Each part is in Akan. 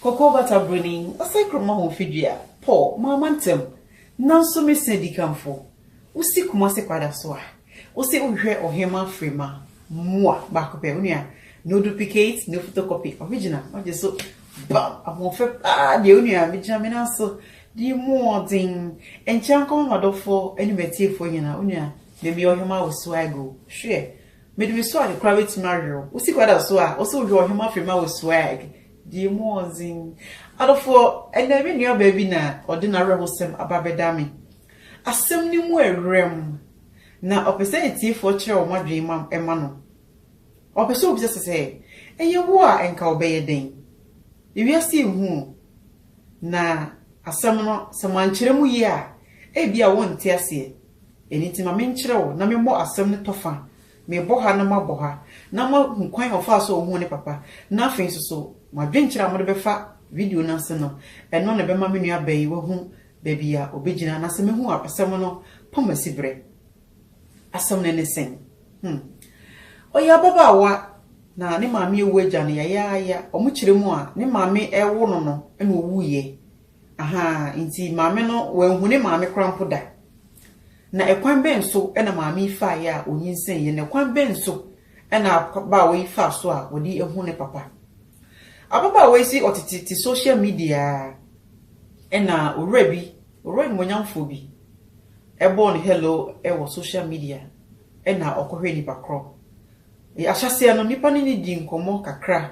Kɔkɔɔ bata buroni, ɔsɛe krom ahofadua, pɔ, mamma ntam, nanso me se dikanfo, wusi Kumasi kwada so a, wose wohwehwɛ ɔhemmaa Frema, mua, baako pɛ, onua, no duplicate, no photocopy, original, wagye so, bam, ahoɔfɛ paa, deɛ onua, megyina me nan so, di mmɔɔden, nkyɛ nkɔma m'adɔfoɔ ne m'atiefoɔ nyinaa, onua, memeyɛ ɔhemmaa wɔ Swagoo, hwɛ, Mede me suade koraa bɛtumi awerɛ wo. Wo sika da so a, wo se wodwe ɔhema firi ma wo swag. Deɛ mu wɔ dzen. Adɔfoɔ, ɛnnɛ me nuabaa bi na ɔde n'awerɛhosɛm aba bɛda me. Asɛm no mu ɛwerɛm, na ɔpɛ sɛ atiefoɔ kyerɛ wɔn adwene ma ɛma no. Ɔpɛ sɛ obisa sɛ, sɛ ɛyɛ wo a nka wobɛyɛ dɛn? Ewiase yɛ hu o, na asɛm no sɛ mankyerɛ mu yie a, ebia wonte aseɛ. Ɛno nti ma menkyerɛ wo na memmɔ asɛm no tɔ fa, mebɔ ha na mabɔ ha, na moahu kwan a ɔfaa so a ohuu ne papa, na afei nso so mo adwenkyerɛ a mode bɛfa video no ase no, ɛno na ɛbɛma me nuabaa yi wahu baabi a obegyina, na sɛ mehu a asɛm no pam asiberɛ. Asɛm no ne sɛn? Hmm. Ɔyɛ ababaawa, na ne maame awu agya no yayaaya, wɔkyerɛ mu a, ne maame rewo no no na ɔwuiɛ, Ahaa, nti maame no, wanhu ne maame koraa mpo da. Na ɛkwan bɛn so na maame yi faeɛ a ɔnyinsɛneeɛ, na ɛkwan bɛn so na ababaawa yi faa so a ɔde ahunu ne papa? Ababaawa yi se ɔtete te social media ara, ɛna owura bi, owura animuonyamfoɔ bi, ɛbɔɔ no hello wɔ social media, ɛna ɔkɔhwɛɛ nipa korɔ. Ahyɛaseɛ no, nnipa ne no dii nkɔmmɔ kakra,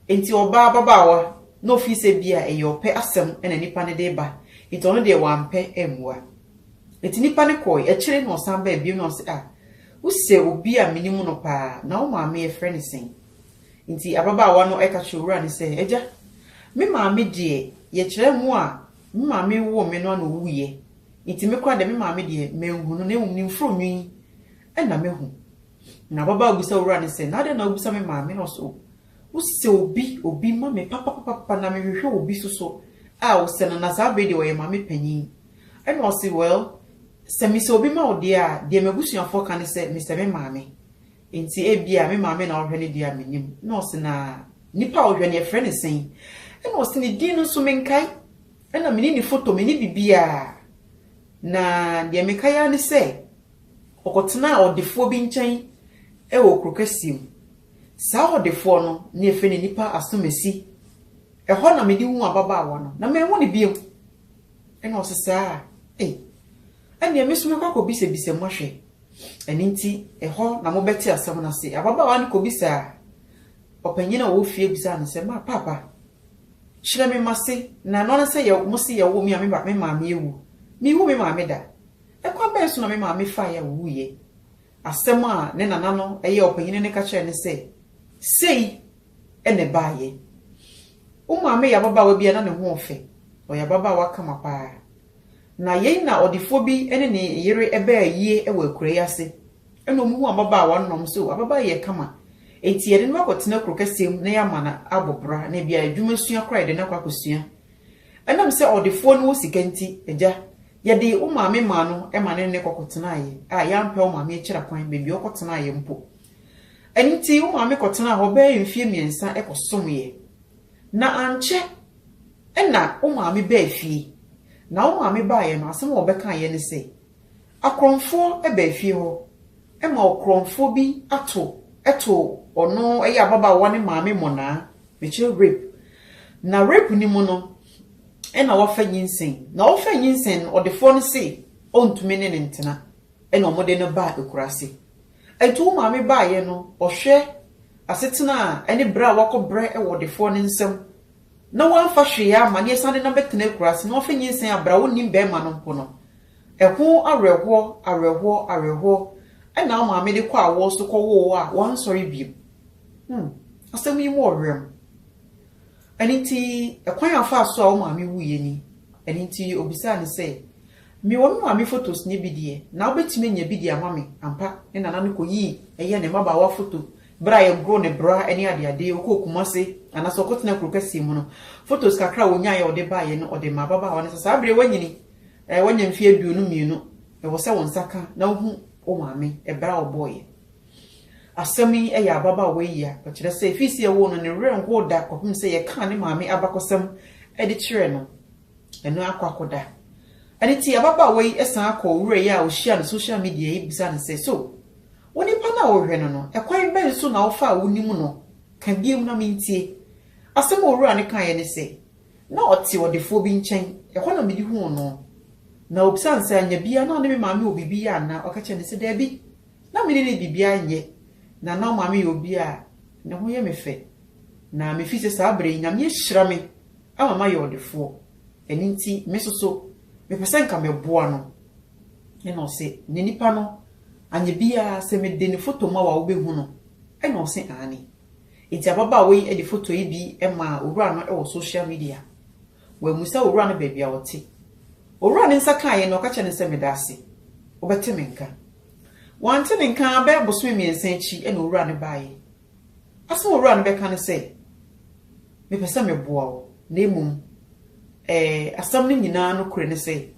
Enti ɔbaa ababaawa na ofii sɛ bi a ɛyɛ ɔpɛ asɛm na nipa no de reba, enti ɔno deɛ wampɛ ammua. Enti nipa no kɔɔe, akyire na ɔsan baa bio na ɔse ah, wosɛ obi a menim no paa, na wo maame yɛfrɛ no sɛn? Enti ababaawa no ka kyerɛɛ owura no sɛ, agya, me maame deɛ yɛkyerɛ mo a me maame woo me no a na ɔwuiɛ, enti me koraa deɛ me maame deɛ manhu no na mmom ne mforo nwi na mahu. Na ababaa bisa owura no sɛ, Na adɛn na wobisa me maame? Na ɔse, O, wosɛ obi, obi ma me papapapapa, na mehwehwɛ obi nso so a wosɛ no, na saa bere yi deɛ ɔyɛ maame panin. Ɛna ɔse, Well, sɛ mesɛ obi ma wo deɛ a, deɛ m'abusuafoɔ ka ne sɛ mesɛ me maame. Enti ebia me maame na ɔhwɛ no deɛ a, mennim. Na ɔse, Na nipa a ɔhwɛ no, yɛfrɛ no sɛn? Ɛna ɔse, Ne din no nso menkae, ɛna menni ne foto, menni biribiara. Na deɛ mekae ara ne sɛ, Ɔkɔtenaa ɔdefoɔ bi nkyɛn wɔ kuro kɛseɛ mu. Saa ɔdefoɔ no na yɛfrɛ no Nipa Asomasi. Ɛhɔ na mede huu ababaawa no, na manhu no bio. Ɛnna ɔse saa a, ei, ɛnneɛ me nso mɛkɔ akɔbisabisa mu ahwɛ. Ɛno nti, ɛhɔ na mobɛte asɛm no ase. Ababaawa no kɔbisaa ɔpanyin a ɔwɔ fie bisaa no sɛ, Ma, paapa, kyerɛ me m'ase, na ɛno ara sɛ mose yɛwoo me a me maame awu. Menhuu me maame da. Ɛkwan bɛn so na me maame fae a owuiɛ? Asɛm a ne nana no ɛyɛ ɔpanyini no ka kyerɛɛ no sɛ, Sei na ɛbaeɛ. Wo maame yɛ ababaawa bi a na ne ho ɔfɛ. Ɔyɛ ababaawa kama pa ara. Na yei na ɔdefoɔ bi ne ne yere bɛɛ yie wɔ akuraa yi ase. Ɛna wɔn hu ababaawa no na wɔn sɛ o, ababaawa yi yɛ kama. Enti yɛde no bɛkɔ tena kuro kɛseɛ mu na yɛama no abɔ bra na ebia adwuma sua koraa yɛde no akɔ akɔsua. Ɛnam sɛ ɔdefoɔ no wɔ sika nti, agya, Yɛde wo maame maa no ma ne ne kɔkɔtenaeɛ a yɛampɛ wo maame akyira kwan baabi a ɔkɔtenaeɛ mpo. Ɛno nti wo maame kɔtenaa hɔ bɛyɛ mfeɛ mmiɛnsa kɔsomeeɛ. Na ankyɛ na wo maame baa fie. Na wo maame baeɛ no, asɛm a ɔbɛkaeɛ ne sɛ, Akorɔmfoɔ baa fie hɔ ma ɔkorɔmfoɔ bi ato too ɔno ɛyɛ ababaawa no maame mmonnaa, mekyerɛ rape. Na rape no mu no, ɛna wafa nyinsɛn, na ɔfa nyinsɛn no ɔdefoɔ no se ɔntumi ne no ntena, ɛna wɔde no baa akuraase. Ɛnti wo maame baeɛ no ɔhwɛ asetena a ɛne berɛ a wakɔ brɛ wɔ ɔdefoɔ no nsam na wamfa hwee amma na yɛsan de no abɛtena akuraase na wafa nyinsɛn a berɛ a wonnim barima no mpo no, ɛho awerɛhoɔ, awerɛhoɔ, awerɛhoɔ ɛna wo maame de kɔ awoɔ so kɔwoo a wansɔre biom. Hmm, asɛm yi mu ɔwerɛm. Ɛno nti, kwan a ɔfaa so a wo maame wuiɛ ni. Ɛno nti, ɔbisaa no sɛ, Mewɔ me maame fotos no bi deɛ, na wobɛtumi anya bi de ama me? Ampa, ne nana no kɔyii ɛyɛ ne mmabaawa foto berɛ a yɛhoroo ne bra ne adeade, ɔkɔɔ Kumase, anaasɛ ɔkɔtenaa kuro kɛseɛ mu no. Fotos kakra a ɔnyaeɛ a ɔde baeɛ no, ɔde maa ababaawa no sɛ, Saa berɛ yi woanyini, woanya mfeɛ aduonu mmienu, ɛwɔ sɛ wo nsa ka na wohu wo maame berɛ a ɔbɔeɛ. Asɛm yi yɛ ababaawa yi ya. Ɔkyerɛ sɛ efi sɛ yɛwoo no no, ne werɛ nhow da kɔpem sɛ yɛkaa ne maame abakɔsɛm de kyerɛɛ no. Ɛno akɔ akɔda. Ɛno nti, ababaawa yi san kɔɔ owura yi a ohyiaa no social media yi bisaa no sɛ, So wo nipa no a wohwɛ no no, kwan bɛn so na wofa a wunim no? Ka bio na mintie. Asɛm a owura no kae ne sɛ, Na ɔte ɔdefoɔ bi nkyɛn. Ɛhɔ na mede huu no. Na obisaa no sɛ, Anya biara? Na ɔne me maame wɔ biribi yɛ anaa? Ɔka kyerɛɛ no sɛ, Dabi. Na me ne no biribiara nyɛ, na na ɔmaame yɛ obi a ne ho yɛ me fɛ, na me fi sɛ saa bere yi Nyame ahyira me ama mayɛ ɔdefoɔ, ɛno nti me nso so mepɛ sɛ nka mɛboa no. Ɛna ɔse, na nipa no anyɛ biara, sɛ me de ne foto ma wo a wo bɛ hu no? Ɛna ɔse, aane. Nti ababaawa yi de foto yi bi maa owura no wɔ social media. Wammisa owura no baabi a ɔte. Owura no nsa kaa yɛn na ɔka kyerɛɛ no sɛ, Meda ase. Wobɛte me nka. Wante ne nka ara bɛyɛ bosome mmiɛnsa akyi na owura no baeɛ. Asɛm a owura no bɛka ne sɛ, Mepɛ sɛ meboa wo, na mmom ɛɛ, asɛm no nyinaa nokorɛ ne sɛ,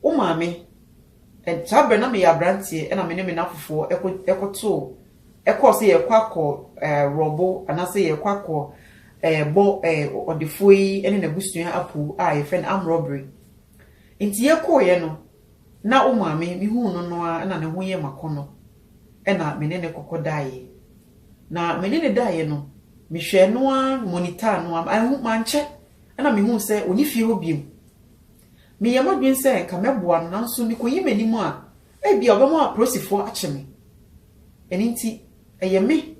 wo maame Saa berɛ no, na meyɛ aberanteɛ na me ne me nna fofoɔ kɔtoo kɔɔ sɛ yɛrekɔ akɔ rɔbo anaasɛ yɛrekɔ akɔ bɔ ɔdefoɔ yi ne n'abusua apu a yɛfrɛ no arm robbery. Nti yɛkɔeɛ no, na wo maame, mehuu no no ara na ne ho yɛ m'akɔnnɔ na me ne no kɔkɔ daeɛ. Na me ne no daeɛ no, mehwɛɛ no ara, monitaa no ara, mankyɛ na mehuu sɛ ɔnni fie hɔ bio. Meyɛɛ m'adwene sɛ anka mɛboa no, nanso mikoyi m'anim a, ebia ɔbɛma apolisifo akye me. Ɛno nti, ɛyɛ me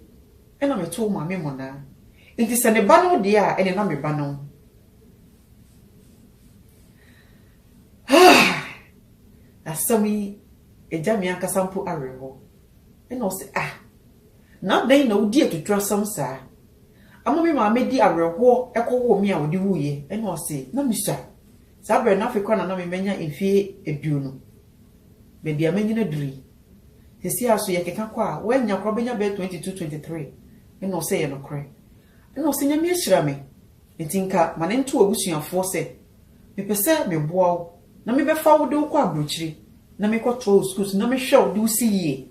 na metow Maame mmonnaa. Enti sɛ ne ba ne wo deɛ a, ɛnde na me ba ne wo. Haa! Asɛm yi gya me ankasa mpo awerɛhow. Ɛnna ɔse, Ah! Na adɛn na wodi atuturasɛm saa? Ama me maame de awerɛhoɔ kɔwoo me a ɔde wuiɛ, ɛna ɔse na mesua. Saa berɛ no afe koro na na me manya mfie aduonu. Baabi a manyini aduru yi, seesei ara so yɛkeka kɔ a, woannya koraa wobɛnya bɛyɛ 22, 23. Ɛna ɔse ɛyɛ nokorɛ. Ɛna ɔse Nyame ahyira me, nti nka ma no nto w'abusuafoɔ sɛ mepɛ sɛ meboa wo na mebɛfa wo de wo kɔ aburokyire na mekɔtoa wo sukuu so na mehwɛ wo de wo si yie.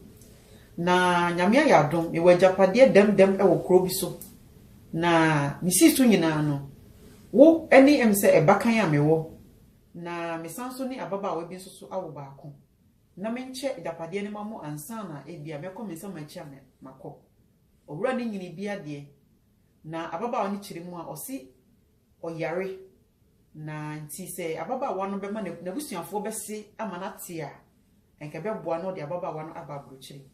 Na Nyame ayɛ adom, mewɔ agyapadeɛ dɛm dɛm wɔ kuro bi so, na mesii so nyinaa no, wo ne em sɛ ɛbakan a mewɔ, na mesan nso ne ababaawa bi nso so awo baako, na menkyɛ agyapadeɛ no ma mo ansa na ebia mɛkɔ me nsa m'akyi a makɔ. Owura no nyini bi adeɛ, na ababaawa no kyiri mu a ɔse, ɔyare, na nti sɛ ababaawa no bɛma n'abusuafoɔ bɛse ama no ate a, anka ɛbɛboa na ɔde ababaawa no aba aburokyire.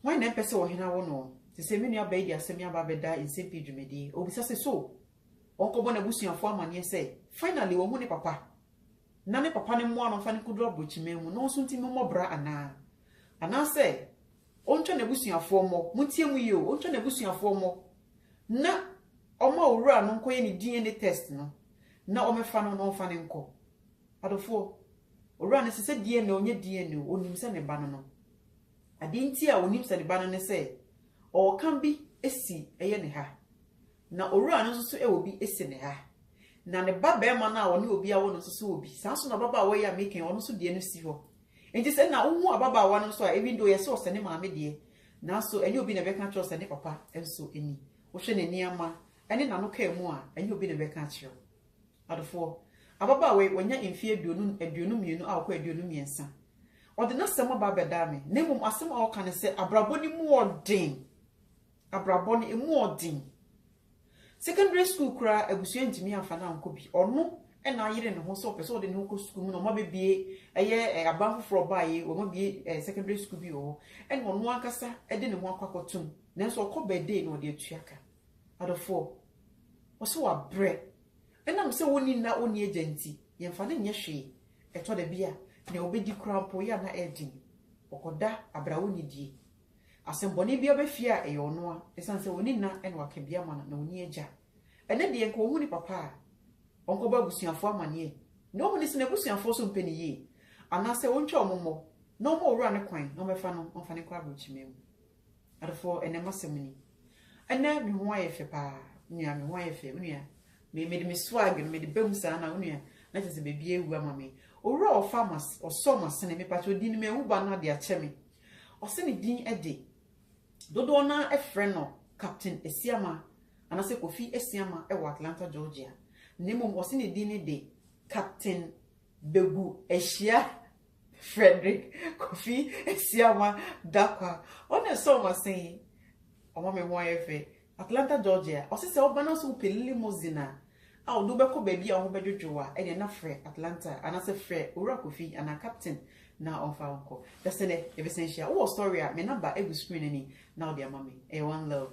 Hwan na ɛmpɛ sɛ ɔhene awo no? Te sɛ me nua baa yi de asɛm yi aba abɛda nsɛm pii dwumadie. Ɔbisa sɛ, So ɔnkɔbɔ n'abusuafoɔ amaneɛ sɛ finally wahu ne papa na ne papa no mmoa no mfa no nkɔduru aburokyiman mu no nso nti mommɔ bra anaa? Anaasɛ Ɔntwa n'abusuafoɔ mmɔ. Montie mu yie o, ɔntwa n'abusuafoɔ mmɔ na ɔma owura no nkɔyɛ ne DNA test no na ɔmɛfa no na ɔmfa no nkɔ. Adɔfoɔ, owura no se sɛ DNA o, ɔnyɛ DNA o, ɔnim sɛ ne ba no no. Adeɛ nti a ɔnim sɛ ne ba no ne sɛ ɔɔka bi asi ɛyɛ ne ha. Na owura no nso so wɔ bi si ne ha. Na ne ba barima no a ɔne obi awo no nso so wɔ bi. Saa nso na ababaawa yi a meka yi, ɔno nso deɛ no si hɔ. Enti sɛ na wohu ababaawa no nso a, even though yɛse ɔsɛ ne maame deɛ, nanso ɛnyɛ obi na ɛbɛka akyerɛ wo sɛ ne papa nso ni. Wohwɛ ne nneɛma ne n'ano kaa mu a, ɛnyɛ obi na ɛbɛka akyerɛ wo. Adofoɔ, ababaawa yi, wanya mfeɛ aduonu, aduonu mmienu akɔ aduonu mmiɛnsa. Ɔde n'asɛm aba abɛdaa me, na mmom asɛm a ɔka ne sɛ abrabɔ no mu ɔden. Abrabɔ no emu ɔden. Secondary school koraa abusua ntumi amfa no ankɔ bi. Ɔno na ayere ne ho sɛ ɔpɛ sɛ ɔde ne ho kɔ sukuu mu na wɔabɛbue ɛyɛ aban foforɔ ɔbaeɛ wɔabue secondary school bi wɔ hɔ ɛna ɔno ankasa de ne ho akɔ akɔtom nanso ɔkɔ birthday na ɔde atua ka. Adɔfoɔ, ɔsɛ wabrɛ. Ɛnam sɛ ɔnni nna ɔnni agya nti, yɛmfa no nyɛ hwee. Ɛtɔ da bi a, nea ɔbɛdi koraa mpo yɛ a na ɛyɛ den. Ɔkɔda abira ɔnnidie. Asɛmmɔne bi aba fie a, ɛyɛ ɔno a, ɛsiane sɛ ɔnni nna na waka bi ama no, na ɔnni agya. Ɛnnɛ deɛ, nka ɔhu ne papa a, ɔnkɔbɔ abusuafoɔ amaneɛ, na ɔhu no sɛ n'abusuafoɔ nso mpɛ no yie, anaasɛ ɔntwa wɔn mmɔ, na ɔmma Owura no kwan na ɔmmɛfa no ɔmfa no nkɔ aberɛkyima mu. Adɔfoɔ, ɛnnɛ m'asɛm ni. Ɛnnɛ, me ho ayɛ fɛ pa ara. Wo nua, me ho ayɛ fɛ. Wo nua, me, mede me swag no, mede ba mu saa na, wo nua, na kyerɛ sɛ baabiara awu ama me. Owura a ɔfa m'as, ɔsɔ m'asene, mepa kyɛw, ɔdi no m'awu ba no ade akyɛ me. Ɔse ne din de, dodoɔ no ara frɛ no Captain Asiamah anaasɛ Kofi Asiamah wɔ Atlanta Georgia, na mmom ɔse ne din ne de Captain Begu Ahyia Fredrick Kofi Asiamah Darkwah. Ɔne sɛ ɔma sɛn? Ɔma me ho ayɛ fɛ. Atlanta Georgia, ɔse sɛ woba na sɛ wopɛ limousine a a ɔde wo bɛkɔ baabi a wo ho bɛdwodwo wo a ɛneɛ na frɛ Atlanta anasɛ frɛ Owura Kofi anaa Captain na ɔmfa wo nkɔ. Bɛsɛ dɛ yɛbɛsan hyia. Wowɔ story a me number egu screen no ani na wode ama me. Ɛyɛ one love.